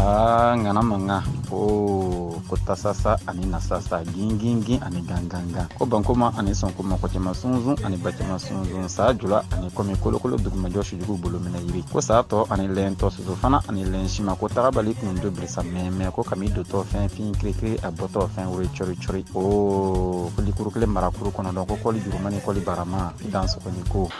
aa ŋana mankan ko ko tasasa ani nasasa gingingin ani gangangan ko bankoma ani sɔnkoma kɔ cɛma sunsun ani ba cɛma sunsun saa jula ani kɔmi kolokolo dugumajɔ sujugu bolo minɛ yiri ko saa tɔ ani lɛn tɔ soso fana ani lɛn sima ko tagabali kun do birisa mɛmɛ ko kami dontɔ fɛn fin kirikiri a bɔtɔ fɛn woro cɔri cɔri o ko likuru kelen marakuru kɔnɔ dɔn ko kɔli jurumani kɔli barama dan sɔgɔni ko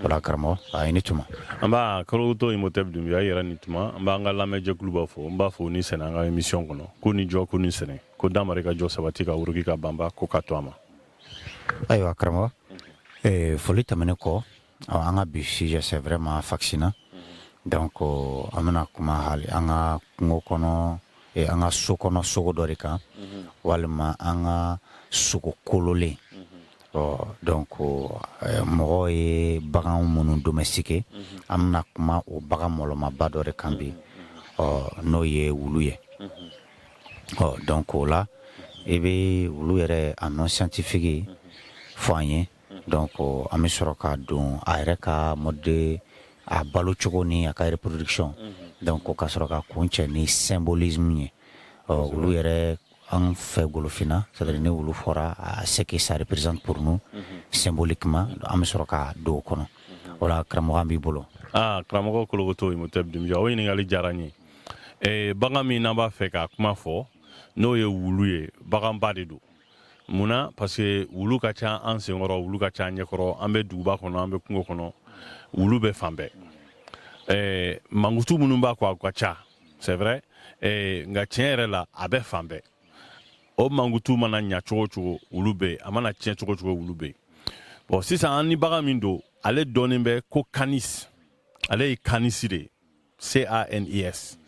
voilà karamɔgɔ i ni tuma an ba kolokoto imɔtɛb dunbiya yɛrɛ ni tuma an b'an ka lamɛnjɛkuluba fo n b'a fo ni sɛnɛ an ka émission kɔnɔ ko ni jɔ ko ni sɛnɛ ko damari ka jɔ sabati ka wuruki ka banba ko ka to a ma ayiwa karamɔgɔ eh, foli tɛmɛnen kɔ an ka bi sujet c'est vraiment fascinant donc euh, an bɛna kuma hali an ka kungo kɔnɔ eh, an ka so kɔnɔ sogo dɔ de kan mhm. walima an ka sogo kololen Ɔ donc mɔgɔ ye bagan minnu domestiquer an bɛna kuma o bagan mɔlɔmaba dɔ de kan bi ɔ n'o ye wulu ye ɔ donc o la i bɛ wulu yɛrɛ a nom scientifique fɔ an ye donc an bɛ sɔrɔ ka don a yɛrɛ ka mode a balo cogo ni a ka reproduction donc ka sɔrɔ ka kuncɛ ni symbolisme ye ɔ wulu yɛrɛ An fɛ golofinna c'est-à-dire ni wulu fɔra ce que ça représente pour nous symboliquement an bɛ sɔrɔ ka don kɔnɔ voilà karamɔgɔ an b'i bolo aaa karamɔgɔ kolokoto imɔtɛb dunbiya o ɲininkali diyara n ye bagan min an b'a fɛ k'a kuma fɔ n'o ye wulu ye baganba de don munna parce que wulu ka ca an senkɔrɔ wulu ka ca an ɲɛkɔrɔ an bɛ duguba kɔnɔ an bɛ kungo kɔnɔ wulu bɛ fan bɛɛ mankutu minnu b'a kɔ a ka ca c'est vrai eh, nka tiɲɛ yɛrɛ la a bɛ fan bɛɛ o mankutu mana ɲa cogo cogo wulu bɛ yen a mana tiɲɛ cogo cogo wulu bɛ yen bon sisan an ni bagan min don ale dɔnnen bɛ ko canis ale ye kanisi de ye c a n i s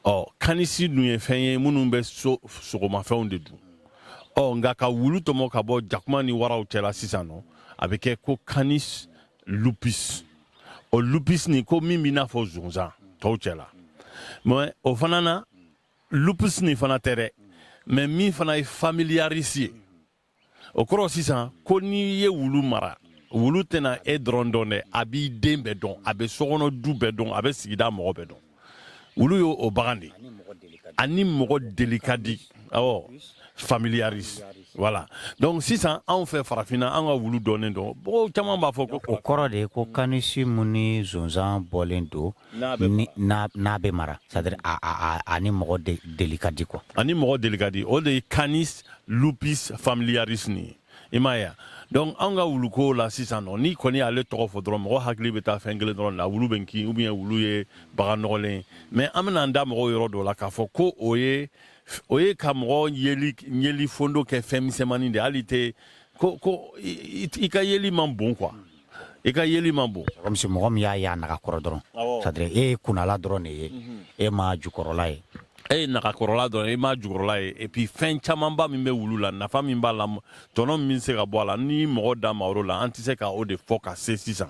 ɔ kanisi dun ye fɛn ye minnu bɛ sogomafɛnw de dun ɔ nka ka wulu tɔmɔ ka bɔ jakuma ni waraw cɛla sisan nɔ a bɛ kɛ ko canis lupus o lupus nin ko min b'i n'a fɔ zonzan tɔw cɛla mais o fana na lupus nin fana tɛ dɛ mais min fana ye familiaris ye o kɔrɔ sisan ko n'i ye wulu mara wulu tɛna e dɔrɔn dɔn dɛ a b'i den bɛɛ dɔn a bɛ sokɔnɔ du bɛɛ dɔn a bɛ sigida mɔgɔ bɛɛ dɔn wulu ye o bagan de a ni mɔgɔ deli ka di awɔ familiaris voilà donc sisan anw fɛ farafinna an ka wulu dɔnnen don mɔgɔw caman b'a fɔ ko o kɔrɔ de ko kanisi mun ni zonzan bɔlen don n'a bɛ mara c'est-à-dire a ni mɔgɔ deli ka di quoi a ni mɔgɔ deli ka di o de ye canis lupus familiaris nin ye i m'a ye donc anw ka wuluko la sisan nɔ n'i kɔni y'ale tɔgɔ fɔ dɔrɔn mɔgɔ hakili bɛ taa fɛn kelen dɔrɔn la wulu bɛ kin ou bien wulu ye bagan nɔgɔlen mais an bɛna an da mɔgɔw yɔrɔ dɔ la k'a fɔ ko o ye o ye ka mɔgɔ yeli yeli fondo kɛ fɛn misɛnmanin de hali tɛ ko ko i ka yeli man bon quoi i ka yeli man bon comme si mɔgɔ min y'a ye a naga kɔrɔ dɔrɔn c'est-à-dire e ye kunnala dɔrɔn de ye mhm. e ma jukɔrɔla ye e ye naga kɔrɔla dɔrɔn e ma jukɔrɔla ye et puis fɛn camanba min bɛ wulu la nafa min b'a la tɔnɔ min se ka bɔ a la ni mɔgɔ da ma o la an tɛ se ka o de fɔ ka se sisan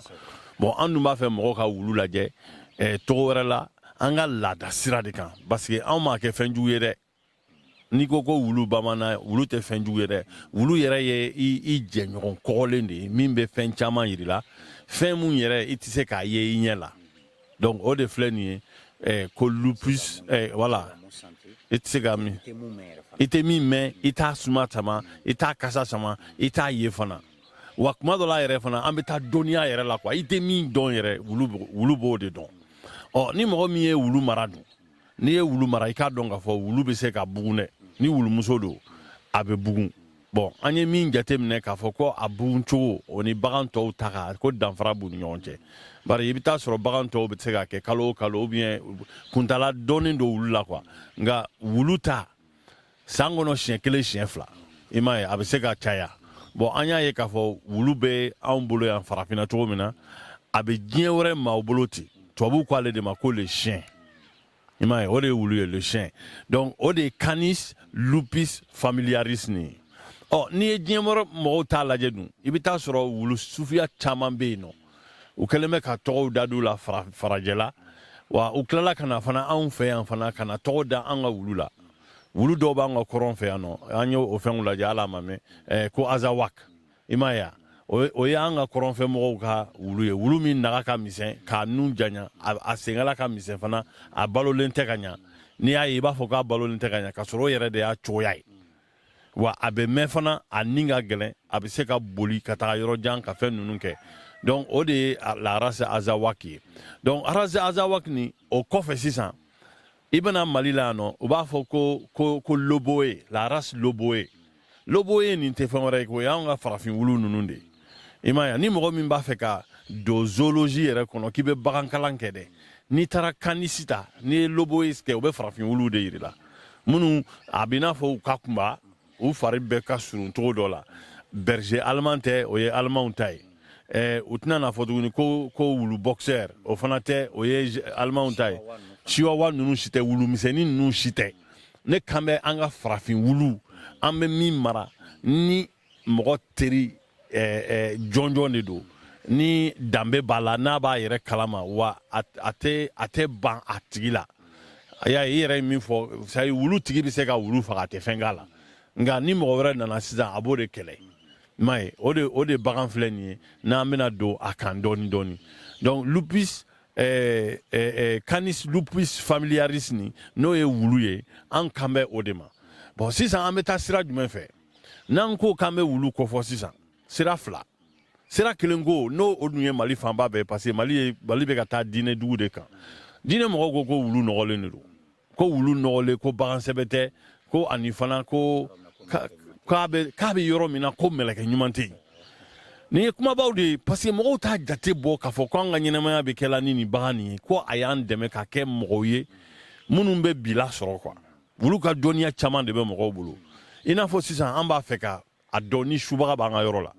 bon an dun b'a fɛ mɔgɔ ka wulu lajɛ eh, cogo wɛrɛ la an ka laada sira de kan parce que anw m'a kɛ fɛn jugu ye dɛ n'i ko ko wulu bamanan wulu tɛ fɛn jugu ye dɛ wulu yɛrɛ ye i jɛɲɔgɔn kɔgɔlen de ye min bɛ fɛn caman yir'i la fɛn min yɛrɛ i tɛ se k'a ye i ɲɛ la donc o de filɛ nin ye eh, ko lupus eh, voilà i tɛ se ka min i tɛ min mɛn i t'a suma sama i t'a kasa sama i t'a ye fana wa kuma dɔ la yɛrɛ fana an bɛ taa dɔnniya yɛrɛ la quoi i tɛ min dɔn yɛrɛ wulu b'o de dɔn ɔ ni mɔgɔ min ye wulu mara dun n'i ye wulu mara i k'a dɔn k'a fɔ wulu bɛ se ka bugun dɛ ni wulumuso don a bɛ bugun bon an ye min jateminɛ k'a fɔ ko a bugun cogo o ni bagan tɔw ta kan ko danfara b'u ni ɲɔgɔn cɛ bari i bɛ taa sɔrɔ bagan tɔw bɛ se ka kɛ kalo o kalo ou bien kuntala dɔɔnin don wulu la quoi nka wulu ta san kɔnɔ siɲɛ kelen siɲɛ fila i m'a ye a bɛ se ka caya bon an y'a ye k'a fɔ wulu bɛ anw bolo yan farafinna cogo min na a bɛ diɲɛ wɛrɛ maaw bolo ten tubabuw ko ale de ma ko le chien i m'a ye o de ye wulu ye le chien donc o de ye canis lupus familiaris nin ye ɔ n'i ye diɲɛ wɛrɛ mɔgɔw ta lajɛ dun i bɛ taa sɔrɔ wulu suguya caman bɛ yen nɔ u kɛlen bɛ ka tɔgɔw da d'u la farajɛla wa u tilala ka na fana anw fɛ yan fana ka na tɔgɔ da an ka wulu la wulu dɔw b'an ka kɔrɔn fɛ yan nɔ an y'o o fɛnw lajɛ ala ma mɛn eh, ko azawak i m'a ye o ye an ka kɔrɔnfɛ mɔgɔw ka wulu ye wulu min naga ka misɛn k'a nun janya a senkala ka misɛn fana a balolen tɛ ka ɲa n'i y'a ye i b'a fɔ k'a balolen tɛ ka ɲa k'a sɔrɔ o yɛrɛ de y'a cogoya ye wa a bɛ mɛn fana a ni ka gɛlɛn a bɛ se ka boli ka taga yɔrɔ jan ka fɛn ninnu kɛ donc o de ye la race azawak ye donc race azawak nin o kɔfɛ sisan i bɛ na mali la yan nɔ u b'a fɔ ko ko ko loboye la race loboye loboye nin tɛ fɛn wɛrɛ ye ko o y'anw ka farafin wulu ninnu de i m'a ye ni mɔgɔ min b'a fɛ ka don zoologie yɛrɛ kɔnɔ k'i bɛ bagankalan kɛ dɛ n'i taara canis ta n'i ye loboye kɛ u bɛ farafin wuluw de yir'i la minnu a b'i n'a fɔ u ka kunba u fari bɛɛ ka surun cogo dɔ la berger allemand tɛ o ye allemanw ta ye eh, u tɛna n'a fɔ tuguni ko ko wulu boxer o fana tɛ o ye allemanw ta ye chihuahua ninnu si tɛ wulu misɛnnin ninnu si tɛ ne kan bɛ an ka farafin wulu an bɛ min mara ni mɔgɔ teri eh, jɔnjɔn de don ni danbe b'a la n'a b'a yɛrɛ kalama wa a tɛ ban a tigi la a y'a ye i yɛrɛ ye min fɔ c'est-à-dire wulu tigi bɛ se ka wulu faga a tɛ fɛn k'a la nka ni mɔgɔ wɛrɛ nana sisan a b'o de kɛlɛ i m'a ye o de o de bagan filɛ nin ye n'an bɛna don a kan dɔɔni dɔɔni donc lupus eh, eh, eh, canis lupus familiaris nin n'o ye wulu ye an kan bɛ o de ma bon sisan an bɛ taa sira jumɛn fɛ n'an ko k'an bɛ wulu kofɔ sisan sira fila sira kelen ko n'o o dun ye mali fanba bɛɛ parce que mali ye mali bɛ ka taa diinɛ dugu de kan diinɛ mɔgɔw ko ko wulu nɔgɔlen de don ko wulu nɔgɔlen ko bagan sɛbɛ tɛ ko ani fana ko k'a bɛ k'a bɛ yɔrɔ min na ko mɛlɛkɛ ɲuman tɛ yen nin ye kumabaw de ye parce que mɔgɔw t'a jate bɔ k'a fɔ ko an ka ɲɛnamaya bɛɛ kɛla ni nin bagan nin ye ko a y'an dɛmɛ ka kɛ mɔgɔw ye minnu bɛ bi lasɔrɔ quoi wulu ka dɔnniya caman de bɛ mɔgɔw bolo i n'a fɔ sisan an b'a fɛ ka a dɔn ni subaga b'an ka yɔrɔ la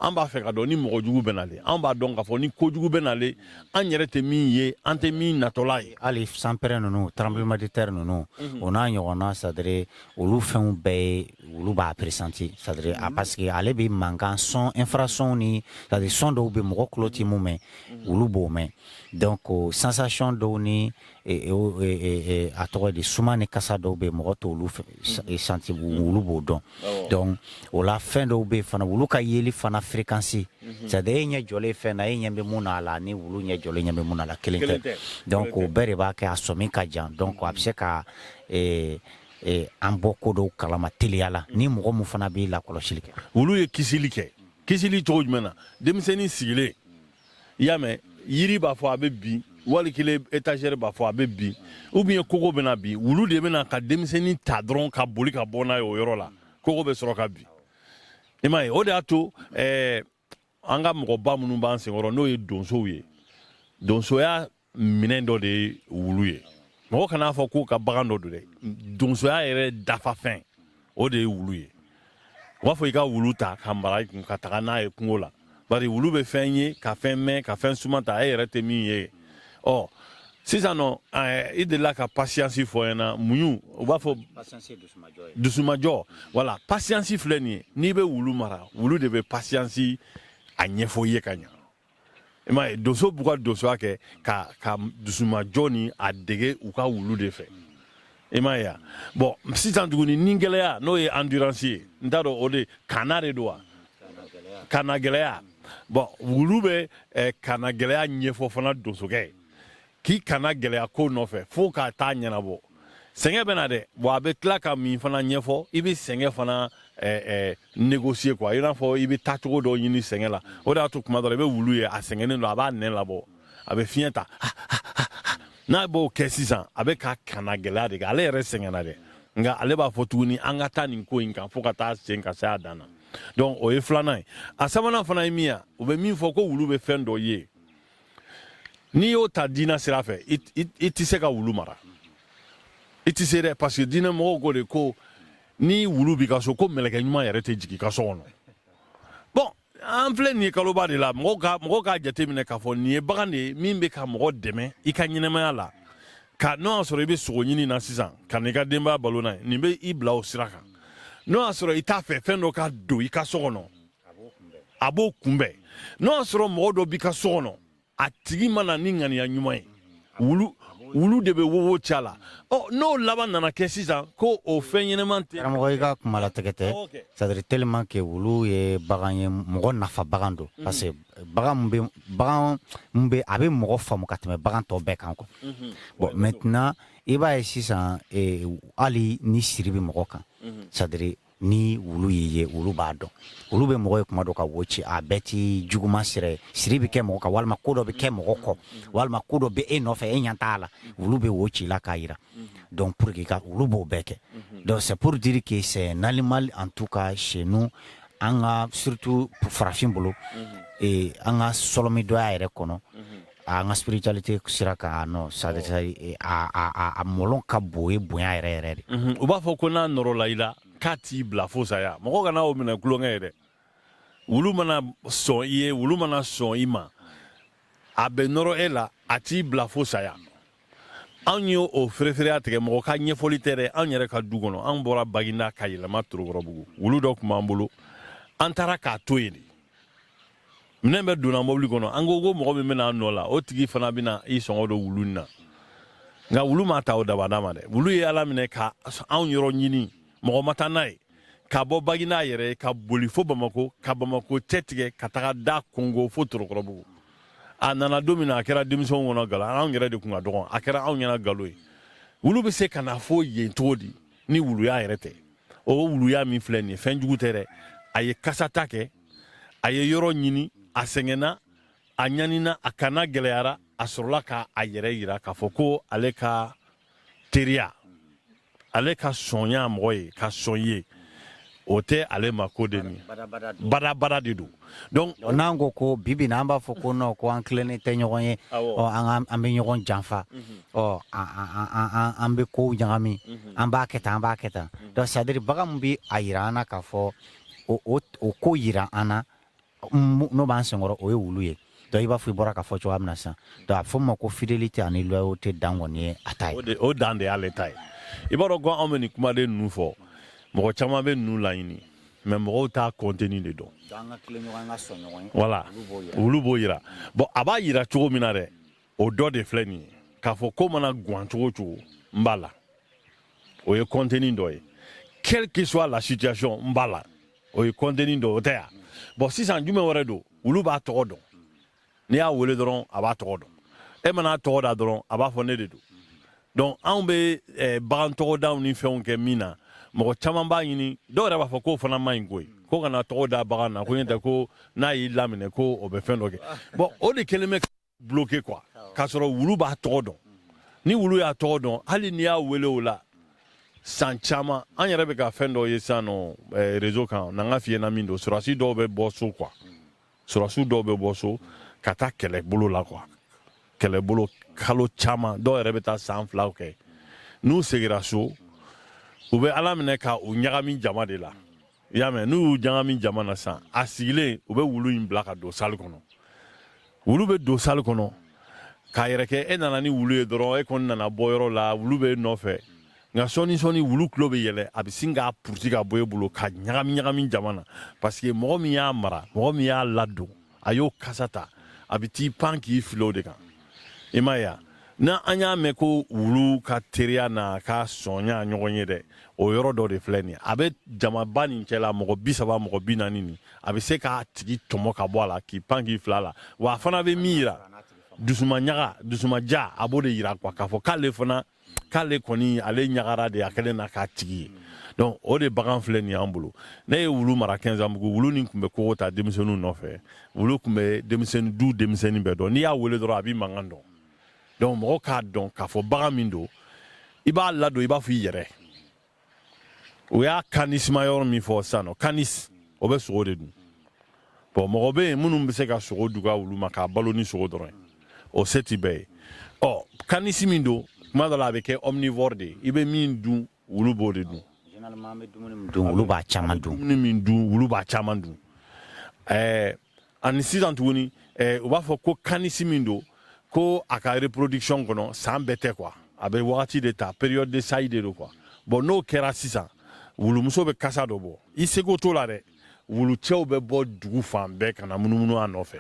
an b'a fɛ k'a dɔn ni mɔgɔ jugu bɛ nale an b'a dɔn k'a fɔ ni kojugu bɛ nale an yɛrɛ tɛ min ye an tɛ min natɔla ye hali sanpɛrɛn ninnu tremblement de terre ninnu mhm. o n'a ɲɔgɔnna c'est-à-dire olu fɛnw bɛɛ ye wulu b'a pressenti c'est-à-dire a mhm. parce que ale bɛ mankan son infrason ni c'est-à-dire son dɔw bɛ mɔgɔ tulo tɛ mun mɛn mhm. wulu b'o mɛn donc sensation dɔw ni a tɔgɔ di suma ni kasa dɔw bɛ mɔgɔ t'olu senti wulu b'o dɔn donc o la fɛn dɔw bɛ fana wulu ka yeli fana fréquence c'est-à-dire e ɲɛ jɔlen fɛn na e ɲɛ bɛ min na a la ni wulu ɲɛ jɔlen ɲɛ bɛ min na a la kelen tɛ donc o bɛɛ de b'a kɛ a sɔmi ka jan donc a bɛ se ka an bɔ ko dɔw kalama teliya la ni mɔgɔ min fana b'i lakɔlɔsili kɛ wulu ye kisili kɛ kisili cogo jumɛn na denmisɛnnin sigilen i y'a mɛn yiri b'a fɔ a bɛ bin wali kelen étagère b'a fɔ a bɛ bin ou bien kogo bɛna bin wulu de bɛ na ka denmisɛnnin ta dɔrɔn ka boli ka bɔ n'a ye o yɔrɔ la kogo bɛ sɔrɔ ka bin i m'a ye o de y'a to ɛɛ an ka mɔgɔba minnu b'an senkɔrɔ n'o ye donsow ye donsoya minɛn dɔ de ye wulu ye mɔgɔ kan'a fɔ k'u ka bagan dɔ don dɛ donsoya yɛrɛ dafafɛn o de ye wulu ye u b'a fɔ i ka wulu ta ka mara i kun ka taga n'a ye kungo la bari wulu bɛ fɛn ye ka fɛn mɛn ka fɛn suma ta e yɛrɛ tɛ min ye ɔ sisan nɔ i delila ka patience fɔ ɲɛna muɲu u b'a fɔ dusumajɔ wala patience filɛ nin ye n'i bɛ wulu mara wulu de bɛ patience a ɲɛfɔ i ye ka ɲa i m'a ye donso b'u ka donsoya kɛ ka ka dusumajɔ ni a dege u ka wulu de fɛ i m'a ye bon sisan tuguni nigɛlɛya n'o ye endurance ye n t'a dɔn o de kana de don wa kannagɛlɛya bon wulu bɛ eh, kannagɛlɛya ɲɛfɔ fana donsokɛ ye k'i kannagɛlɛya ko nɔfɛ fo ka taa a ɲɛnabɔ sɛgɛn bɛ na dɛ wa a bɛ tila ka min fana ɲɛfɔ i bɛ sɛgɛn fana eh, eh, négocier quoi i n'a fɔ i bɛ taa cogo dɔ ɲini sɛgɛn la o de y'a to kuma dɔ la i bɛ wulu ye a sɛgɛnnen don a b'a nɛn labɔ a bɛ fiɲɛ ta n'a b'o kɛ sisan a bɛ ka kannagɛlɛya de kɛ ale yɛrɛ sɛgɛnna dɛ nka ale b'a fɔ tuguni an ka taa nin ko in kan fo ka taa sen ka se a dan na donc o ye filanan ye a sabanan fana ye min ye u bɛ min fɔ ko wulu bɛ fɛn dɔ ye n'i y'o ta diinɛ sira fɛ i tɛ se ka wulu mara i tɛ se dɛ parce que diinɛ mɔgɔw ko de ko ni wulu b'i ka so ko mɛlɛkɛ ɲuman yɛrɛ tɛ jigin i ka so kɔnɔ bon an filɛ nin ye kaloba de la mɔgɔw ka mɔgɔw k'a jateminɛ k'a fɔ nin ye bagan de ye min bɛ ka mɔgɔ dɛmɛ i ka ɲɛnamaya la ka n'o y'a sɔrɔ i bɛ sogo ɲini na sisan ka n'i ka denbaya balo n'a ye nin bɛ i bila o sira kan n'o y'a sɔrɔ i t'a fɛ fɛn dɔ ka don i ka so kɔnɔ a b'o kunbɛn n'o y'a sɔrɔ mɔgɔ dɔ b'i ka so kɔnɔ a tigi ma na ni ŋaniya ɲuman ye wulu wulu de bɛ wowo ci a la ɔ n'o laban nana kɛ sisan ko o fɛn ɲɛnama tɛ karamɔgɔ i ka kuma latigɛ tɛ c'est à dire tellement que wulu ye bagan ye mɔgɔ nafa bagan don mhm. parce que bagan mun bɛ bagan mun bɛ a bɛ mɔgɔ faamu ka tɛmɛ bagan tɔ bɛɛ kan quoi mhm. bon maintenant i b'a ye sisan eh, hali ni siri bɛ mɔgɔ kan mhm. c'est à dire ni wulu y'i ye wulu b'a dɔn wulu bɛ mɔgɔ ye kuma dɔ ka wo ci a bɛɛ ti juguman sira ye siri bɛ kɛ mɔgɔ kan walima ko dɔ bɛ kɛ mɔgɔ kɔ walima ko dɔ bɛ e nɔfɛ e ɲɛ t'a la wulu bɛ wo ci i la k'a yira donc pour que ka wulu b'o bɛɛ kɛ donc c'est pour dire que c'est un animal en tout cas chez nous an ka surtout farafin bolo ee an ka sɔlɔmidɔya yɛrɛ kɔnɔ An ka spiritualité sira kan non ça veut dire a mɔlɔn ka bon ni bonya yɛrɛ yɛrɛ de ye, u b'a fɔ ko n'a nɔrɔla i la k'a t'i bila fo saya, mɔgɔ kana o minɛ tulonkɛ ye dɛ, wulu mana sɔn i ye, wulu mana sɔn i ma, a bɛ nɔrɔ e la a t'i bila fo saya. anw ye o ferefereya tigɛ mɔgɔ ka ɲɛfɔli tɛ dɛ anw yɛrɛ ka du kɔnɔ anw bɔra baginda ka yɛlɛma torokɔrɔbugu wulu dɔ tun b'an bolo an taara k'a to yen de minɛn bɛɛ donna mɔbili kɔnɔ an ko ko mɔgɔ min bɛna an nɔ la o tigi fana bɛna i sɔngɔ don wulu na nka wulu ma ta o dabada ma dɛ wulu ye ala minɛ ka anw yɔrɔ ɲini mɔgɔ ma taa n'a ye ka bɔ baginda yɛrɛ ka boli fo bamako ka bamako cɛ tigɛ ka taga da kongo fo torokɔrɔbugu a nana don min na a kɛra denmisɛnw kɔnɔ galo anw yɛrɛ de kun ka dɔgɔn a kɛra anw ɲɛna galo ye wulu bɛ se ka na fo yen cogo di ni wuluya yɛrɛ tɛ o wuluya min filɛ nin ye fɛn jugu tɛ dɛ a ye kasata kɛ a ye yɔrɔ ɲini a sɛgɛnna a ɲanina a ka na gɛlɛyara a sɔrɔla ka a yɛrɛ yira k'a fɔ ko ale ka teriya ale ka sɔnya mɔgɔ ye ka sɔn ye o tɛ ale ma ko de ni badabada de don donc n'an ko ko bi bi in na an b'a fɔ ko non ko an tilennen tɛ ɲɔgɔn ye ɔ an an bɛ ɲɔgɔn janfa mhm. ɔ an bɛ kow ɲagami mhm. an b'a kɛ tan an b'a kɛ tan mhm. donc c'est-à-dire bagan min bɛ a yira an na k'a fɔ o ko yira an na n'o b'an senkɔrɔ o ye wulu ye i b'a fɔ i bɔra k'a fɔ cogoya min na sisan a fɔ ma ko fidélité ani loyauté dan kɔni ye a ta ye o dan de y'ale ta ye i b'a dɔn ko anw bɛ nin kumaden ninnu fɔ mɔgɔ caman bɛ ninnu laɲini mais mɔgɔw t'a contenu de dɔn voilà wulu b'o yira bon a b'a yira cogo min na dɛ o dɔ de filɛ nin ye k'a fɔ ko mana gan cogo o cogo n b'a la o ye contenu dɔ ye quelle que soit la situation n b'a la o ye contenu dɔ o tɛ yan bon sisan jumɛn wɛrɛ don wulu b'a tɔgɔ dɔn n'i y'a wele dɔrɔn a b'a tɔgɔ dɔn e mana tɔgɔ da dɔrɔn a b'a fɔ ne de don donc anw bɛ eh, bagan tɔgɔdaw ni fɛnw kɛ min na mɔgɔ caman b'a ɲini dɔw yɛrɛ b'a fɔ k'o fana man ɲi koyi ko kana tɔgɔ da bagan na ko ɲɛ tɛ ko n'a y'i laminɛ ko o bɛ fɛn dɔ kɛ bon o de kɛlen bɛ bloqué quoi k'a sɔrɔ wulu b'a tɔgɔ dɔn ni wulu y'a tɔgɔ dɔn hali n'i y'a wele o la san caman an yɛrɛ bɛ ka fɛn dɔ ye sisan nɔ eh, réseau kan n'an k'a f'i ɲɛna min don sɔrɔdasi dɔw bɛ bɔ so quoi sɔrɔdasiw dɔw bɛ bɔ so ka taa kɛlɛbolo la quoi kɛlɛbolo kalo caman dɔw yɛrɛ bɛ taa san fila kɛ n'u segira so u bɛ a laminɛ ka u ɲagami jama de la i y'a mɛn n'u y'u ɲagami jama na sisan a sigilen u bɛ wulu in bila ka don salle kɔnɔ wulu bɛ don salle kɔnɔ k'a yɛrɛ kɛ e nana ni wulu ye dɔrɔn e kɔni nana bɔ yɔrɔ la wulu bɛ e nɔfɛ nka sɔɔni sɔɔni wulu tulo bɛ yɛlɛ a bɛ sin k'a puruti ka bɔ e bolo ka ɲagami ɲagami jama na parce que mɔgɔ min y'a mara mɔgɔ min y'a ladon a y'o kasa ta a bɛ t'i pan k'i fili o de kan i m'a ye ni an y'a mɛn ko wulu ka teriya n'a ka sɔnya ɲɔgɔn ye dɛ o yɔrɔ dɔ de filɛ nin a bɛ jamaba nin cɛla mɔgɔ bi saba mɔgɔ bi naani nin a bɛ se k'a tigi tɔmɔ ka bɔ a la k'i pan k'i fil'a la wa a fana bɛ min yira dusuma ɲaga dusuma ja a b'o de yira quoi k'a fɔ k'ale fana k'ale kɔni ale ɲagara de a kɛlen na k'a tigi ye donc o de bagan filɛ nin y'an bolo ne ye wulu mara kɛnzanbugu wulu nin tun bɛ kogo ta denmisɛnninw nɔfɛ wulu tun bɛ denmisɛnnin du denmisɛnnin bɛɛ dɔn n'i y'a wele dɔrɔn a b'i mankan dɔn donc mɔgɔ k'a dɔn k'a fɔ bagan min don i b'a ladon i b'a fɔ i yɛrɛ u y'a kanisima yɔrɔ min fɔ sisan nɔ kanis o bɛ sogo de dun bon mɔgɔ bɛ yen minnu bɛ se ka sogo d'u ka wulu ma k'a balo ni sogo dɔrɔn ye o se tɛ bɛɛ ye ɔ kanisi min don kuma dɔ la a bɛ kɛ omnivore de ye i bɛ min dun wulu b'o de dun généralement an bɛ dumuni min dun wulu b'a caman dun ɛɛ ani sisan tuguni eh, u b'a fɔ ko kanisi min don ko a ka reproduction kɔnɔ san bɛɛ tɛ quoi a bɛ wagati de ta période de saillie de don quoi bon n'o kɛra sisan wulumuso bɛ kasa dɔ bɔ i seko t'o la dɛ wulucɛw bɛ bɔ dugu fan bɛɛ ka na munumunu a nɔfɛ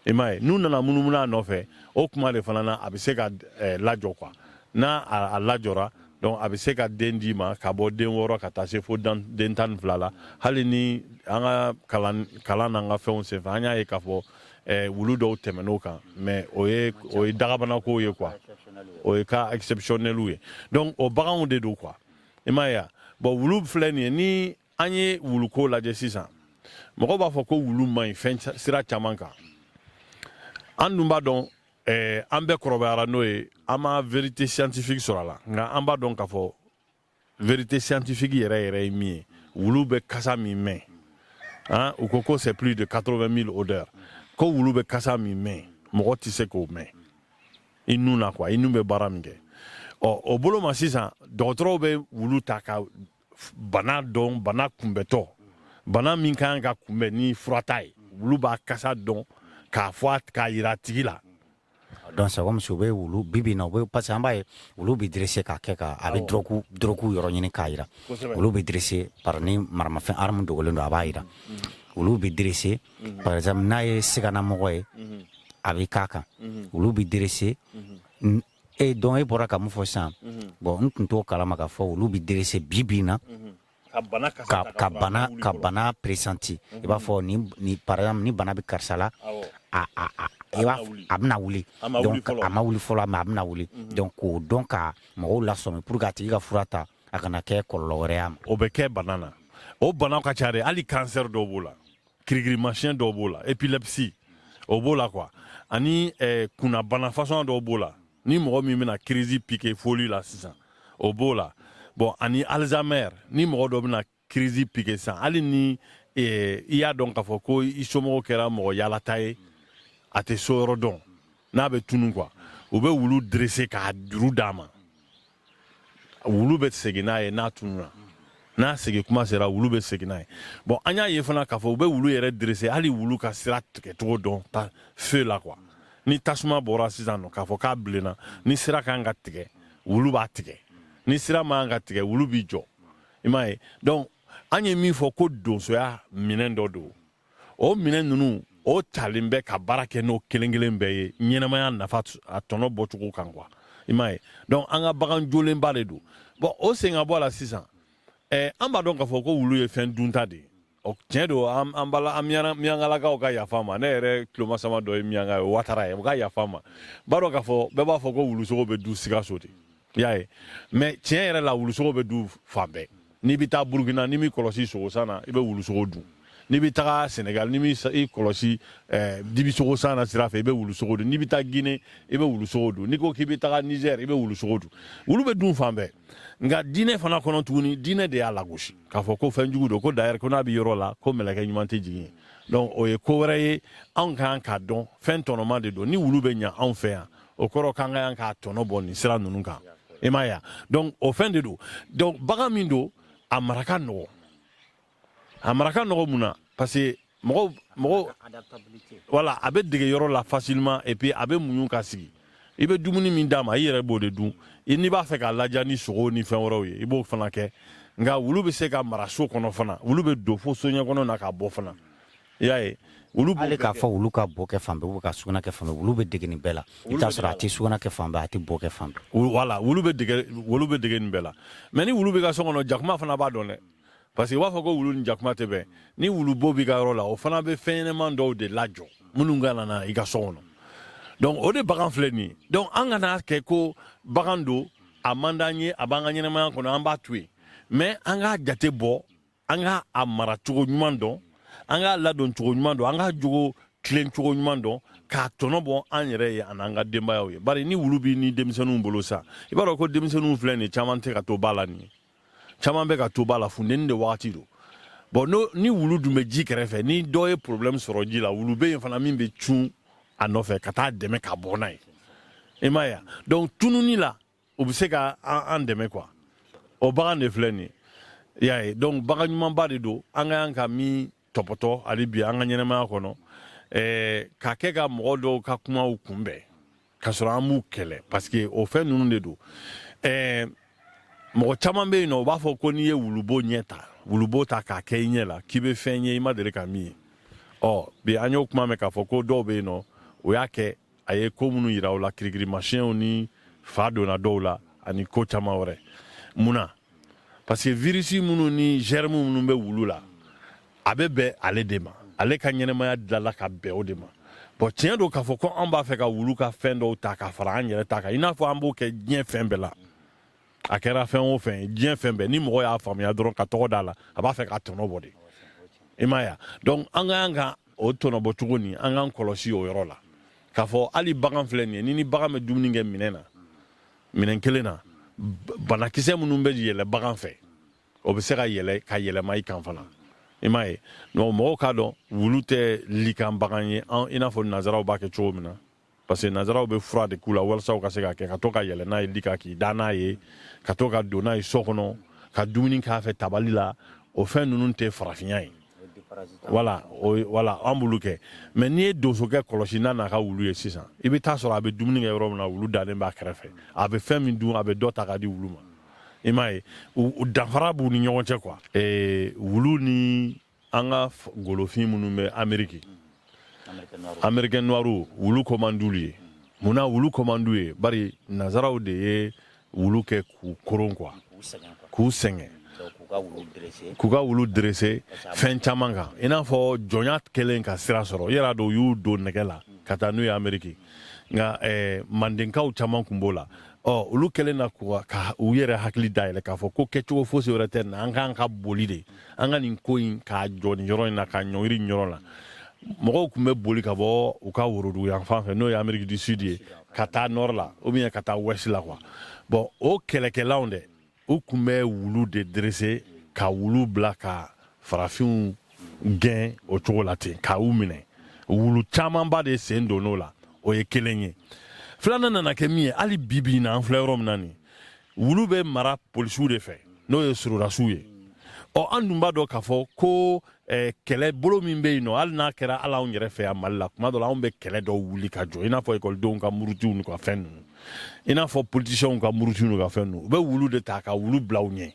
i m'a ye n'u nana munumunu a nɔfɛ o kuma de fana na a bɛ se ka eh, lajɔ quoi n'a a, a lajɔra donc a bɛ se ka den d'i ma ka bɔ den wɔɔrɔ ka taa se fo den tan ni fila la hali ni an ka kalan kalan n'an ka fɛnw senfɛ an y'a ye k'a fɔ eh, wulu dɔw tɛmɛn'o kan mais o ye o ye dagabanakow ye quoi o ye cas exceptionnelw ye donc o baganw de don quoi i m'a ye wa bon wulu filɛ nin ye ni an ye wuluko lajɛ sisan mɔgɔw b'a fɔ ko wulu man ɲi fɛn sira caman kan an dun b'a dɔn eh, an bɛɛ kɔrɔbayara n'o ye an ma vérité scientifique sɔrɔ a la nka an b'a dɔn k'a fɔ vérité scientifique yɛrɛ yɛrɛ ye min ye wulu bɛ kasa min mɛn hein? u ko ko c'est plus de 80 000 odeurs ko wulu bɛ kasa min mɛn mɔgɔ tɛ se k'o mɛn i nun na quoi i nun bɛ baara min kɛ ɔ o bolo ma sisan dɔgɔtɔrɔw bɛ wulu ta ka bana dɔn bana kunbɛtɔ bana min ka kan ka kunbɛn ni furata ye wulu b'a kasa dɔn k'a fɔ k'a yira a tigi la donc c'est comme si u bɛ wulu bi bi na u bɛ parce que an b'a ye wulu bɛ dressé k'a kɛ ka a bɛ dɔrɔgu dɔrɔgu yɔrɔ ɲini k'a yira wulu bɛ dressé par ni maramafɛn arme dogolen don a b'a yira wulu bɛ dressé par exemple n'a ye siganamɔgɔ ye a bɛ k'a kan wulu bɛ dressé e donc e bɔra ka mun fɔ sisan mhm. bon n tun t'o kalama k'a fɔ wulu bɛ dressé bi bi na mhm. ka bana ka bana pressenti mhm. i b'a fɔ ni par exemple ni bana bɛ karisa la i b'a a bɛna wuli donc a ma wuli fɔlɔ mais a bɛna wuli donc k'o dɔn ka mɔgɔw lasɔmi pour que a tigi ka fura ta a kana kɛ kɔlɔlɔ wɛrɛ y'a ma o bɛ kɛ bana na o banaw ka ca dɛ hali cancer dɔw b'o la kirikirimasiyɛn dɔw b'o la épilepsie o b'o la quoi ani eh, kunnabana façon dɔw b'o la ni mɔgɔ min bɛna crise piqué folie la sisan o b'o la bon ani Alzheimer ni mɔgɔ dɔ bɛna crise piqué sisan hali ni eh, i y'a dɔn k'a fɔ ko i somɔgɔ kɛra mɔgɔ yaalata ye a tɛ so yɔrɔ dɔn n'a bɛ tunu quoi u bɛ wulu dressé k'a juru d'a ma wulu bɛ segin n'a ye n'a tununa n'a segin kuma sera wulu bɛ segin n'a ye bon an y'a ye fana k'a fɔ u bɛ wulu yɛrɛ dressé hali wulu ka sira tigɛcogo dɔn ta feu la quoi ni tasuma bɔra sisan nɔ k'a fɔ k'a bilenna ni sira ka kan ka tigɛ wulu b'a tigɛ ni sira man kan ka tigɛ wulu b'i jɔ i m'a ye donc an ye min fɔ ko donsoya minɛn dɔ don o minɛn ninnu o talen bɛ ka baara kɛ n'o kelen kelen bɛɛ ye ɲɛnamaya nafa a tɔnɔ bɔcogo kan quoi i m'a ye donc an ka bagan jolenba de don bon o sen ka bɔ a la sisan eh, an b'a dɔn k'a fɔ ko wulu ye fɛn dunta de ye o tiɲɛ don an an bala an miyangalakaw ka yafa n ma ne yɛrɛ tulomasama dɔ ye miyanga ye watara ye o ka yafa n ma an b'a dɔn k'a fɔ bɛɛ b'a fɔ ko wulusogo bɛ dun sikaso de i y'a ye mais tiɲɛ yɛrɛ la wulusogo bɛ dun fan bɛɛ n'i bɛ taa burukina n'i m'i kɔlɔsi sogosan na i bɛ wulusogo dun n'i bɛ taga senegal n'i m'i kɔlɔsi eh, dibisogo san na sira fɛ i bɛ wulusogo dun n'i bɛ taa gine i bɛ wulusogo dun n'i ko k'i bɛ taga niger i bɛ wulusogo dun wulu bɛ dun fan bɛɛ nka diinɛ fana kɔnɔ tuguni diinɛ de y'a lagosi k'a fɔ ko fɛn jugu don ko d'ailleurs ko n'a bɛ yɔrɔ la ko mɛlɛkɛ ɲuman tɛ jigin yen donc o ye ko wɛrɛ ye anw ka kan k'a dɔn fɛn tɔnɔma de don ni wulu bɛ ɲa anw fɛ yan o kɔrɔ k'an ka yan k'a tɔnɔ bɔ nin sira ninnu kan i m'a ye wa donc o fɛn de don donc bagan min don a mara ka nɔgɔ a mara ka nɔgɔ mun na parce que mɔgɔw mɔgɔw voilà a bɛ dege yɔrɔ la facilement et puis a bɛ muɲu ka sigi i bɛ dumuni min d'a ma i yɛrɛ b'o de dun i n'i b'a fɛ k'a ladiya ni sogo ni fɛn wɛrɛw ye i b'o fana kɛ nka wulu bɛ se ka mara so kɔnɔ fana wulu bɛ don fo soɲɛ kɔnɔna ka bɔ fana i y'a ye wulu bo hali k'a fɔ wulu ka bo kɛ fan bɛɛ ou bien ka sugunɛ kɛ fan bɛɛ wulu bɛ dege nin bɛɛ la i bɛ t'a sɔrɔ a tɛ sugunɛ kɛ fan bɛɛ a tɛ bo kɛ fan bɛɛ Wulu- voilà wulu bɛ dege wulu bɛ dege nin bɛɛ la mais ni wulu b'i ka so kɔnɔ jakuma fana b'a dɔn dɛ parce que u b'a fɔ ko wulu ni jakuma tɛ bɛn ni wulubo b'i ka yɔrɔ la o fana bɛ fɛn ɲɛnɛman dɔw de lajɔ minnu kana na i ka so kɔnɔ donc o de bagan filɛ nin ye donc an kana kɛ ko bagan don a man d'an ye a b'an ka ɲɛnɛmaya kɔnɔ an b'a to yen mais an k'a jate bɔ an k'a mara cogo ɲuman dɔn an k'a ladon cogo ɲuman dɔn an k'a jogo tilen cogo ɲuman dɔn k'a tɔnɔ bɔ an yɛrɛ ye ani an ka denbayaw ye bari ni wulu b'i ni denmisɛnninw bolo sa i b'a dɔn ko denmisɛnninw filɛ nin ye caman tɛ ka to ba la nin ye caman bɛ ka to ba la funteni de wagati don bon ni wulu dun bɛ ji kɛrɛfɛ ni dɔ ye problème sɔrɔ ji la wulu bɛ yen fana min bɛ cun a nɔfɛ ka t'a dɛmɛ ka bɔ n'a ye i m'a ye donc tununi la u bɛ se ka an dɛmɛ quoi o bagan de filɛ nin ye i y'a ye donc bagan ɲumanba de don an ka yan ka min tɔpɔtɔ hali bi an ka ɲɛnɛmaya kɔnɔ ɛɛ ka kɛ ka mɔgɔ dɔw ka kumaw kunbɛn ka sɔrɔ an b'u kɛlɛ parce que o fɛn ninnu de don ɛɛ mɔgɔ caman bɛ yen nɔ u b'a fɔ ko n'i ye wulubo ɲɛ ta wulubo ta k'a kɛ i ɲɛ la k'i bɛ fɛn ye i ma deli ka min ye ɔ bi an y'o kuma mɛn k'a fɔ ko dɔw bɛ yen nɔ o y'a kɛ a ye ko minnu yira u la kirikirimasiyɛnw ni fa donna dɔw la ani ko caman wɛrɛ mun na parce que virisi minnu ni germe minnu bɛ wulu la a bɛ bɛn ale de ma ale ka ɲɛnɛmaya dilala ka bɛn o de ma bon tiɲɛ don k'a fɔ ko an b'a fɛ ka wulu ka fɛn dɔw ta ka fara an yɛrɛ ta kan i n'a fɔ an b'o kɛ diɲɛ fɛn bɛɛ la a kɛra fɛn o fɛn diɲɛ fɛn bɛɛ ni mɔgɔ y'a faamuya dɔrɔn ka tɔgɔ d'a la a b'a fɛ ka tɔnɔ bɔ de i m'a ye donc an ka kan ka o tɔnɔ bɔ cogo ni an k'an kɔlɔsi o yɔrɔ la k'a fɔ hali bagan filɛ nin ye n'i ni bagan bɛ dumuni kɛ minɛn na minɛn kelen na banakisɛ minnu bɛ yɛlɛ bagan fɛ o bɛ se ka yɛlɛ ka yɛlɛma i kan fana i m'a ye mɔgɔw k'a dɔn wulu tɛ li kan bagan ye i n'a fɔ nanzaraw b'a kɛ cogo min na parce que nazaraw bɛ fura de k'u la walasa u ka se ka kɛ ka to ka yɛlɛ n'a ye li kan k'i da n'a ye ka to ka don n'a ye so kɔnɔ ka dumuni k'a fɛ tabali la o fɛn ninnu tɛ farafinya ye voilà voilà an b'olu kɛ mais n'i ye donsokɛ kɔlɔsi n'a n'a ka wulu ye sisan i bɛ t'a sɔrɔ a bɛ dumuni kɛ yɔrɔ min na wulu dalen b'a kɛrɛfɛ a bɛ fɛn min dun a bɛ dɔ ta ka di wulu ma i m'a ye danfara b'u ni ɲɔgɔn cɛ quoi wulu ni an ka golofin minnu bɛ ameriki américains noirs wulu ko man d'olu ye mun na wulu ko man d'u ye bari nazaraw de ye wulu kɛ k'u koron quoi k'u sɛgɛn k'u ka wulu dresser fɛn caman kan i n'a fɔ jɔnya kɛlen ka sira sɔrɔ yɛrɛ dɔw y'u don nɛgɛ la ka taa n'u ye ameriki nka eh, mandenkaw caman tun b'o la ɔ olu kɛlen na ka u yɛrɛ hakili dayɛlɛ k'a fɔ ko kɛcogo fosi wɛrɛ t'an na an kan ka boli de an ka nin ko in k'a jɔ nin yɔrɔ in na k'a ɲɔngiri yɔrɔ la mɔgɔw tun bɛ boli ka bɔ u ka worodugu yanfan fɛ n'o ye ameriki du sud ye ka taa nord la ou bien ka taa ouest la quoi bon o kɛlɛkɛlaw dɛ u tun bɛ wulu de dresser ka wulu bila ka farafinw gɛn o cogo la ten ka u minɛ wulu camanba de sen donn'o la o ye kelen ye filanan nana kɛ min ye hali bibi in na an filɛ yɔrɔ min na nin wulu bɛ mara polisiw de fɛ n'o ye sɔrɔdasiw ye ɔ an dun b'a dɔn k'a fɔ ko eh, kɛlɛ bolo min bɛ yen nɔ hali n'a kɛra hali anw yɛrɛ fɛ yan mali la tuma dɔ la anw bɛ kɛlɛ dɔw wuli ka jɔ i n'a fɔ ekɔlidenw ka murutiw n'u ka fɛn ninnu i n'a fɔ politisiyɛnw ka murutiw n'u ka fɛn ninnu u bɛ wulu de ta ka wulu bila u ɲɛ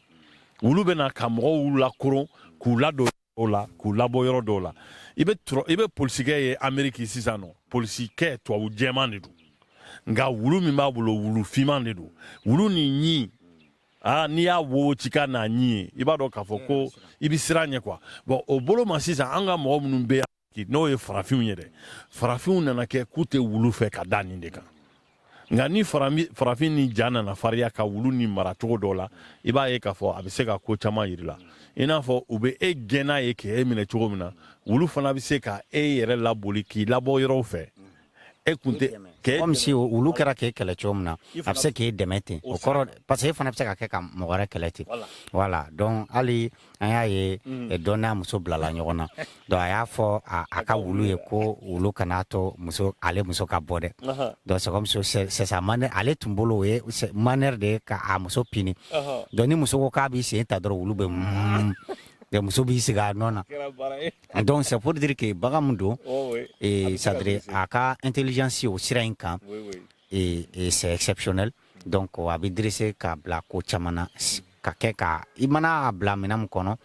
wulu bɛ na ka mɔgɔw lakoron k'u ladon o la k'u labɔ yɔrɔ dɔw la i bɛ t'a sɔrɔ i bɛ polisikɛ ye ameriki sisan nɔ polisikɛ tubabu jɛman de don nka wulu min b'a bolo wulu finman de don wulu nin ɲin aa n'i y'a wo ci kan n'a ɲin ye i b'a dɔn k'a fɔ ko i bɛ siran a ɲɛ quoi bon o bolo ma sisan an ka mɔgɔ minnu bɛ yan n'o ye farafinw ye dɛ farafinw nana kɛ k'u tɛ wulu fɛ ka da nin de kan nka ni farafin nin ja nana fariya ka wulu nin mara cogo dɔ la i b'a ye k'a fɔ a bɛ se ka ko caman yir'i la i n'a fɔ u bɛ e gɛn n'a ye k'e minɛ cogo min na wulu fana bɛ se ka e yɛrɛ laboli k'i labɔ yɔrɔw fɛ e kun tɛ comme si wulu kɛra k'e kɛlɛ cogo min na a bɛ se k'e dɛmɛ ten o kɔrɔ parce que e fana bɛ se ka kɛ ka mɔgɔ wɛrɛ kɛlɛ ten voilà donc hali an y'a ye mm. dɔ n'a muso bilala ɲɔgɔn na donc a y'a fɔ a ka wulu ye ko wulu kana to ale muso ka bɔ dɛ donc c'est comme si c'est sa manière ale tun bolo o ye manière de ye ka a muso puni donc ni muso ko k'a b'i sen ta dɔrɔn wulu bɛ muso b'i sigi a nɔ na donc c'est pour dire que bagan min don c'est-à-dire a ka intelligence o sira in kan c'est exceptionnel donc a bɛ dressé k'a bila ko caman na ka kɛ ka i mana a bila minɛn min kɔnɔ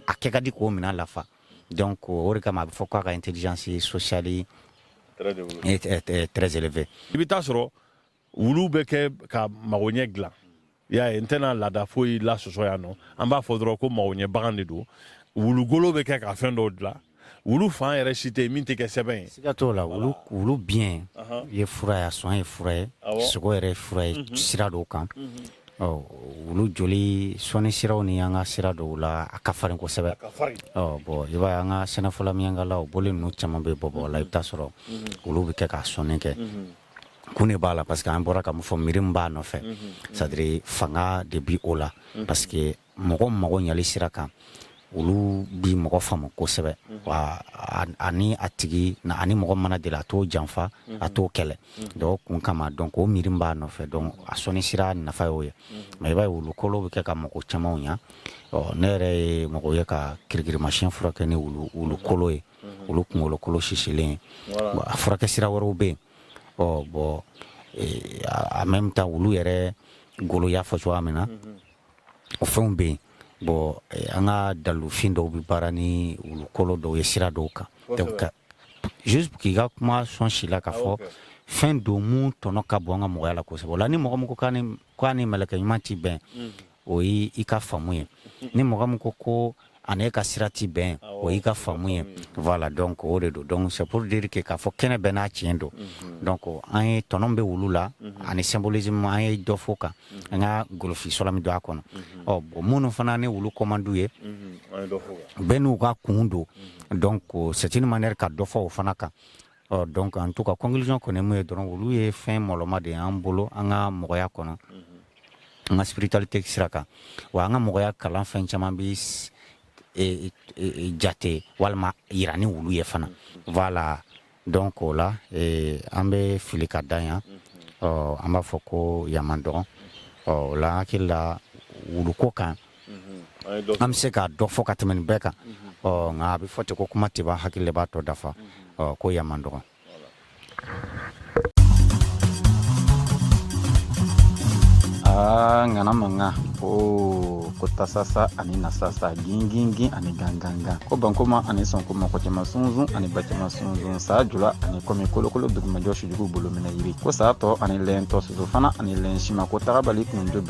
a kɛ ka di k'o minɛn lafa donc o de kama a bɛ fɔ k'a ka intelligence sociale est très élevée i bɛ taa sɔrɔ wulu bɛ kɛ ka magoɲɛ dilan y'a ye n tɛna laada foyi lasɔsɔ yan non an b'a fɔ dɔrɔn ko magoɲɛ bagan de don wulugolo bɛ kɛ ka fɛn dɔw dilan wulu fan yɛrɛ si tɛ yen min tɛ kɛ sɛbɛn ye siga t'o la wulu wulu biɲɛ ye fura ye a sɔn ye fura ye sogo yɛrɛ ye fura ye mhm. sira dɔw kan mhm. ɔ wulu joli sɔnni siraw ni an ka sira dɔw la a ka farin kosɛbɛ ɔ bon i b'a ye an ka sɛnɛfɔla miyankala o bɔlen ninnu caman bɛ bɔbɔla i bɛ taa sɔrɔ mhm. wulu bɛ kɛ k'a sɔnni kɛ kun de b'a la parce que an bɔra ka min fɔ miiri min b'a nɔfɛ c'est-à-dire fanga de bi o la parce que mɔgɔ mago ɲali sira kan wulu bi mɔgɔ faamu kosɛbɛ wa a ni a tigi n'a ni mɔgɔ mana deli a t'o janfa a t'o kɛlɛ donc kun kama donc o miiri b'a nɔfɛ donc a sɔnni sira nafa y'o ye mais i b'a ye wulu kolo bɛ kɛ ka mɔgɔ camanw ɲa ne yɛrɛ ye mɔgɔ ye ka kirikirimasiyɛn furakɛ ni wulu kolo ye mhm. wulu kunkolokolo sisilen a furakɛ sira wɛrɛw bɛ yen ɔ bon en même temps wulu yɛrɛ golo y'a fɔ cogoya min na mhm. o fɛnw bɛ yen bon an ka dalufin dɔw bɛ baara ni wulu kolo dɔw ye sira dɔw kan juste k'i ka kuma sɔn si la k'a fɔ fɛn don min tɔnɔ ka bon an ka mɔgɔya la kosɛbɛ o la ni mɔgɔ min ko k'a ni ko a ni mɛlɛkɛ ɲuman tɛ bɛn o ye i ka faamu ye ni mɔgɔ min ko ko a ni e ka sira tɛ bɛn o y'i ka faamu ye voilà donc o de don donc c'est pour dire que k'a fɔ kɛnɛ bɛɛ n'a tiɲɛ don donc an ye tɔnɔ bɛ wulu la ani symbolisme an ye dɔ fɔ o kan an ka golofi sɔrɔ min don a kɔnɔ ɔ bon minnu fana ni wulu ko man di u ye bɛɛ n'u ka kun don donc c'est une manière ka dɔ fɔ o fana kan ɔ donc en tout cas conclusion kɔni min ye dɔrɔn wulu ye fɛn mɔlɔma de y'an bolo an ka mɔgɔya kɔnɔ an ka spiritualité sira kan wa an ka mɔgɔya kalan fɛn caman bɛ e, e, e, jate walima jira ni wulu ye fana voilà donc o la an bɛ fili ka dan yan ɔ an b'a fɔ ko yan dɔgɔ ɔ o la hakilila wuluko kan an bɛ se k'a dɔ fɔ ka tɛmɛ nin bɛɛ kan nka a bɛ fɔ ten ko kuma tɛ ban hakili de b'a tɔ dafa ko yan man dɔgɔ ŋana mankan ko ko tasasa ani nasasa gingingin ani gangangan ko bankoma ani sɔnkoma kɔ cɛma sunsun ani ba cɛma sunsun saa jula ani kɔmi kolokolo dugumajɔ sujugu bolo minɛ yiri ko saa tɔ ani lɛn tɔ soso fana ani lɛn sima ko tagabali kun jo